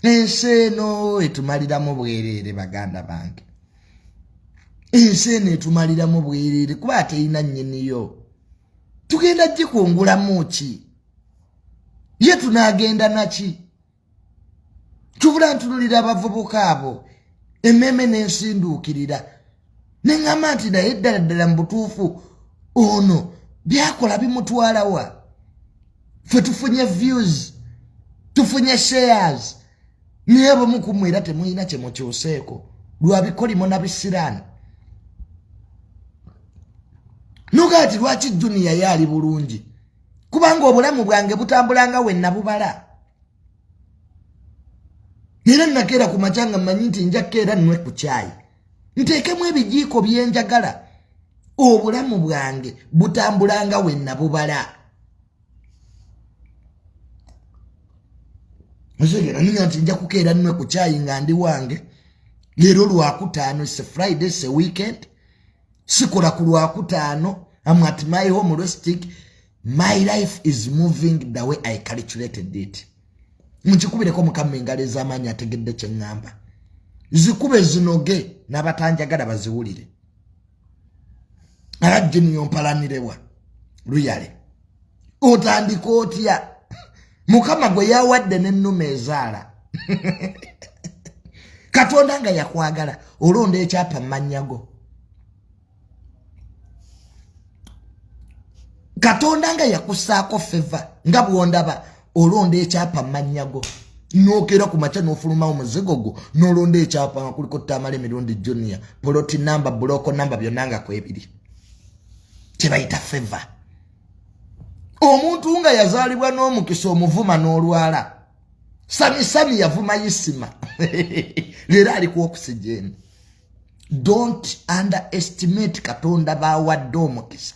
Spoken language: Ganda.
ensi eno etumaliramu bwereere baganda bange ensi eno etumaliramu bwereere kuba ateina nyiniyo tugenda gikungulamu ki ye tunagenda naki tubula ntunulira abavubuka abo emmeeme n'ensinduukirira neŋŋamba nti naye ddala ddala mu butuufu ono byakola bimutwalawa fe tufunye views tufunye shares naye abamu ku mwe era temulina kye mukyuseeko lwa bikolimo na bisiraani nuga ati lwaki juniya ye ali bulungi kubanga obulamu bwange butambulanga we nabubala era nakeera ku macanga mmanyi nti njakkeera nnwe ku kyayi nteekemu ebijiiko byenjagala obulamu bwange butambulanga wenna bubala muzeera niga nti nja kukeera nwe ku kyayi nga ndi wange leero lwakutaano se friday se weekend sikola ku lwakutaano am at my home restic my life is moving the way i calculated it mukikubireko mukama engalo ez'amaanyi ategedde kye ŋŋamba zikube zinoge n'abatanjagala baziwulire alajjini yompalanirewa luyale otandika otya mukama gwe yawadde n'ennuma ezaala katonda nga yakwagala olonda ekyapa mu mannya go katonda nga yakusaako feva nga bwondaba olonda ekyapa mumannyago nokera ku makya nofulumawo muzigo gwo nolonda ekyapa nga kuliko tamala emirundi junior poloti namba buloko namba byonna nga kwebiri kyebayita feva omuntu nga yazaalibwa n'omukisa omuvuma n'olwala samisami yavuma isima leero alikuokusijeeni don't underestimate katonda bawadde omukisa